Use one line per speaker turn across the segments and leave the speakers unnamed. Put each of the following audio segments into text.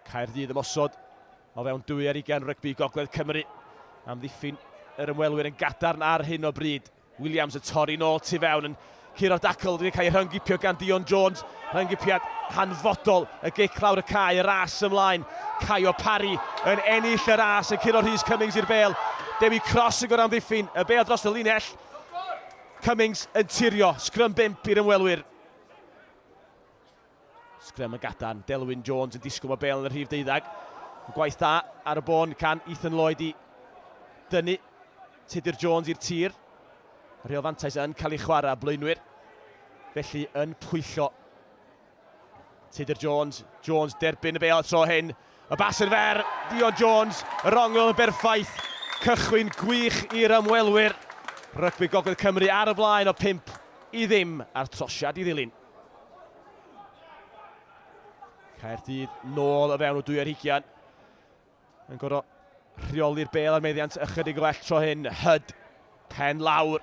Caerdydd ymosod o fewn dwy ar ugain rygbi Gogledd Cymru. Amddiffyn yr ymwelwyr yn gadarn ar hyn o bryd. Williams y torri nôl tu fewn yn curo'r dacl wedi cael ei rhyngipio gan Dion Jones. Rhyngipiad hanfodol y gic lawr y cae, y ras ymlaen. Caio Parry yn ennill y ras yn curo Rhys Cummings i'r bel. Dewi Cross yn amddiffyn y bel dros y linell. Cummings yn tirio, sgrym bimp i'r ymwelwyr. Sgrym yn gadarn, Delwyn Jones yn disgwyl mae bel yn y rhif deuddag. Gwaith da ar y bôn can Ethan Lloyd i dynnu Tudur Jones i'r tir. Rheol fantais yn cael ei chwarae blaenwyr. Felly yn pwyllo Tudur Jones. Jones derbyn y bel tro hyn. Y bas yn fer, Dion Jones, yr ongl yn berffaith. Cychwyn gwych i'r ymwelwyr. Rygbi Gogledd Cymru ar y blaen o 5 i ddim a'r trosiad i ddilyn. Caerdydd nôl o fewn o dwy ar hugian. Yn gorau rheoli'r bel ar meddiant ychydig well tro hyn. Hyd, pen lawr,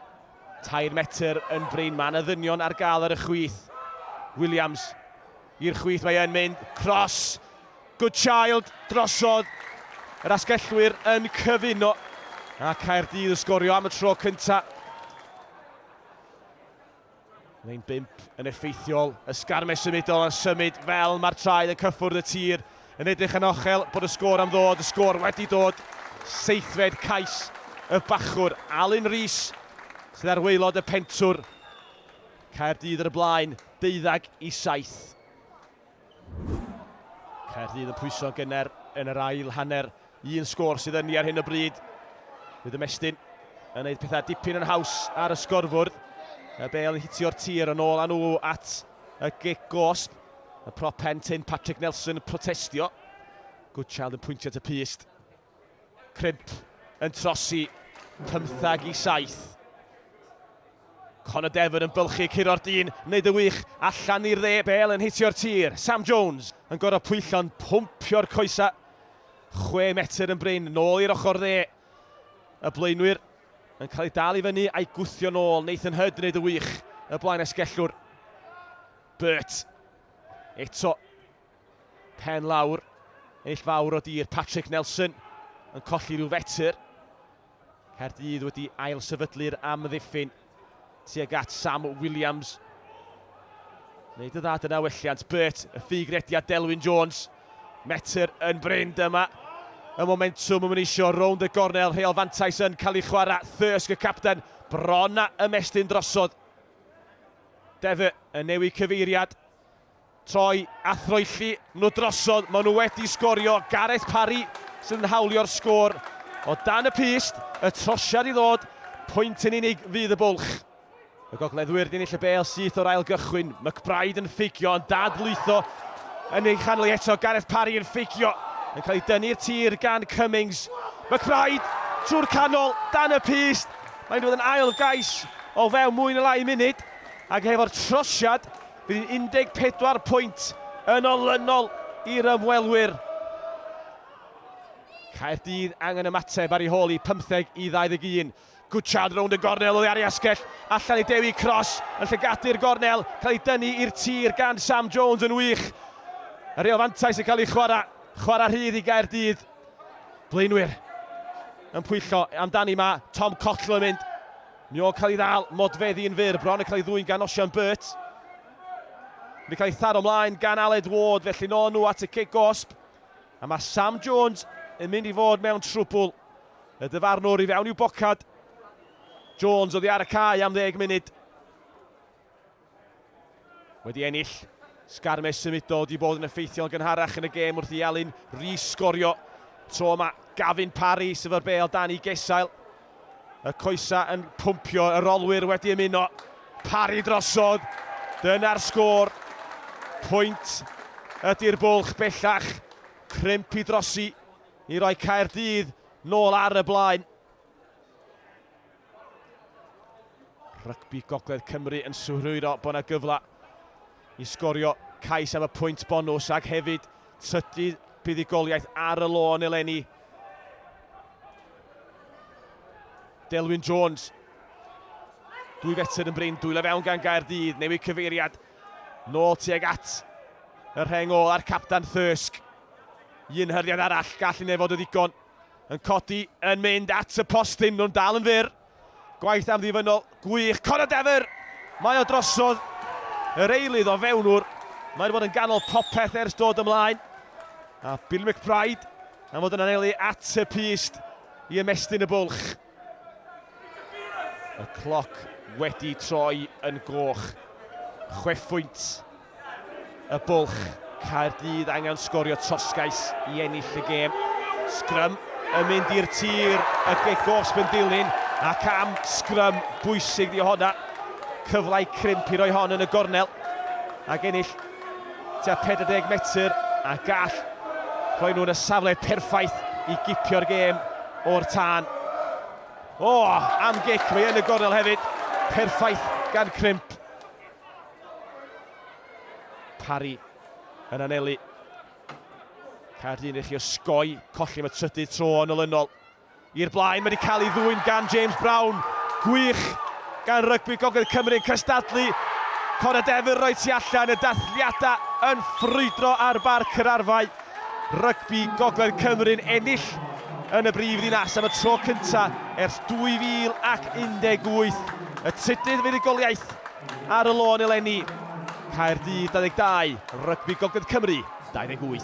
tair metr yn brin. Mae yna ddynion ar gael ar y chwith. Williams i'r chwith, mae yn mynd. Cross, good child, drosodd. Yr asgellwyr yn cyfuno. A Caerdydd yn sgorio am y tro cyntaf. Lein 5 yn effeithiol, ysgarmes symudol a symud fel mae'r traed yn cyffwrdd y tir, yn edrych yn ochel bod y sgôr am ddod, y sgôr wedi dod, seithfed cais y bachwr, Alun Rees sydd ar waelod y pentwr, Caerdydd ar y blaen, deuddag i saith. Caerdydd yn pwyso gynner yn yr ail hanner. Un sgôr sydd yn ni ar hyn o bryd. Bydd y Mestyn yn gwneud pethau dipyn yn haws ar y sgorfwrdd. Y bel yn hitio'r tir yn ôl â nhw at y gic gosb. Y prop pen tyn Patrick Nelson yn protestio. Goodchild yn pwyntio at y pyst. Crimp yn trosi pymtheg i saith. Conor Devon yn bylchu curo'r dyn, wneud y wych allan i'r dde. Bale yn hitio'r tir. Sam Jones yn gorau pwyllo'n pwmpio'r coesau. Chwe metr yn brin, nôl i'r ochr dde. Y blaenwyr yn cael ei dal i fyny a'i gwthio nôl. Nathan Hurd yn wneud y wych, y blaen esgellwr. Burt. Eto Pen lawr, ennill fawr o dir Patrick Nelson yn colli rhyw fetr. Caerdydd wedi ail sefydlu'r amddiffyn tuag at Sam Williams. Neu dy dda dyna welliant. Bert, y ffug rediad Delwyn Jones. Metr yn bryn dyma. Y momentum yn mynd eisiau rownd y gornel. Rheol fantais yn cael ei chwarae. Thirsk y capten. Bron a ymestyn drosodd. Defe yn newid cyfeiriad. Troi a throelli nhw drosodd, maen nhw wedi sgorio, Gareth Parry sydd yn hawlio'r sgôr o dan y pyst, y trosiad i ddod, pwynt yn unig fydd y bwlch. Y gogleddwyr yn ennill y bêl syth o'r ail gychwyn, McBride yn ffugio yn dad lwytho yn ei chanol eto, Gareth Parry yn ffugio, yn cael ei dynnu i'r tir gan Cummings, McBride trwy'r canol, dan y pyst, mae'n dod yn ail gais o fewn mwy na lai munud, ac hefo'r trosiad Bydd 14 pwynt yn olynol i'r ymwelwyr. Caerdydd angen ymateb ar ei hôl i 15 i 21. Gwtshad rownd y gornel oddi ar ei asgell, allan i Dewi Cross yn llygadu'r gornel, cael ei dynnu i'r tir gan Sam Jones yn wych. Yr reol fantais yn cael ei chwarae, chwarae rhydd i Gaerdydd. Blaenwyr yn pwyllo amdani, mae Tom Cottle yn mynd Mae o'n cael ei ddal, Modfeddi yn fyr, bron yn cael ei ddwyn gan Osian Burt. Mae'n cael ei tharo mlaen gan Aled Ward, felly nôl nhw at y cic gosb. A mae Sam Jones yn mynd i fod mewn trwbl. Y dyfarnwr i fewn i'w bocad. Jones oddi ar y cae am ddeg munud. Wedi ennill sgarmes symudol wedi bod yn effeithiol gynharach yn y gêm wrth i Elin Rees sgorio. Tro yma Gavin Parry sydd o'r bel dan i Gesail. Y coesa yn pwmpio, y rolwyr wedi ymuno. Parry drosodd, dyna'r sgôr. Pwynt ydy'r bwlch bellach, crimp i drosi i roi Caerdydd nôl ar y blaen. Rygbi Gogledd Cymru yn synhwyro bod yna gyfle i sgorio cais am y pwynt bonws ac hefyd trydydd buddugoliaeth ar y lôn eleni. Delwyn Jones. Dwy fetr yn brin, dwylo fewn gan Gaerdydd, newid cyfeiriad. Nôl tuag at y rheng ôl a'r capdan Thysg. Un hyrdiad arall, gall hynny fod o ddigon. Yn codi, yn mynd at y postyn, nhw'n dal yn fyr. Gwaith amddiffynnol, gwych, Conor Dever! Mae o drosodd yr eilydd o fewnwr. Mae wedi bod yn ganol popeth ers dod ymlaen. A Billy McBride am fod yn anelu at y pyst i ymestyn y bwlch. Y cloc wedi troi yn goch. Chwefwynt y bwlch. Caerdydd angen sgorio trosgais i ennill y gêm. Sgrym yn mynd i'r tir y gegos yn dilyn ac am sgrym bwysig di honna. Cyflau crimp i roi hon yn y gornel ac ennill tua 40 metr a gall rhoi nhw'n y safle perffaith i gipio'r gêm o'r tân. O, am gic, mae yn y gornel hefyd. Perffaith gan Crimp. Parry yn anelu. Caerdy'n rhywbeth i osgoi, colli am y trydydd tro yn olynol. I'r blaen, mae wedi cael ei ddwyn gan James Brown. Gwych gan Rygbi Gogledd Cymru yn cystadlu. Cora Devil roi tu allan, y dathliadau yn ffrwydro ar Barc yr Arfau. Rygbi Gogledd Cymru'n ennill yn y brif ddinas am y tro cyntaf ers 2018. Y trydydd fuddugoliaeth ar y lôn eleni. Caerdydd 22, Rygbi Gogledd Cymru 28.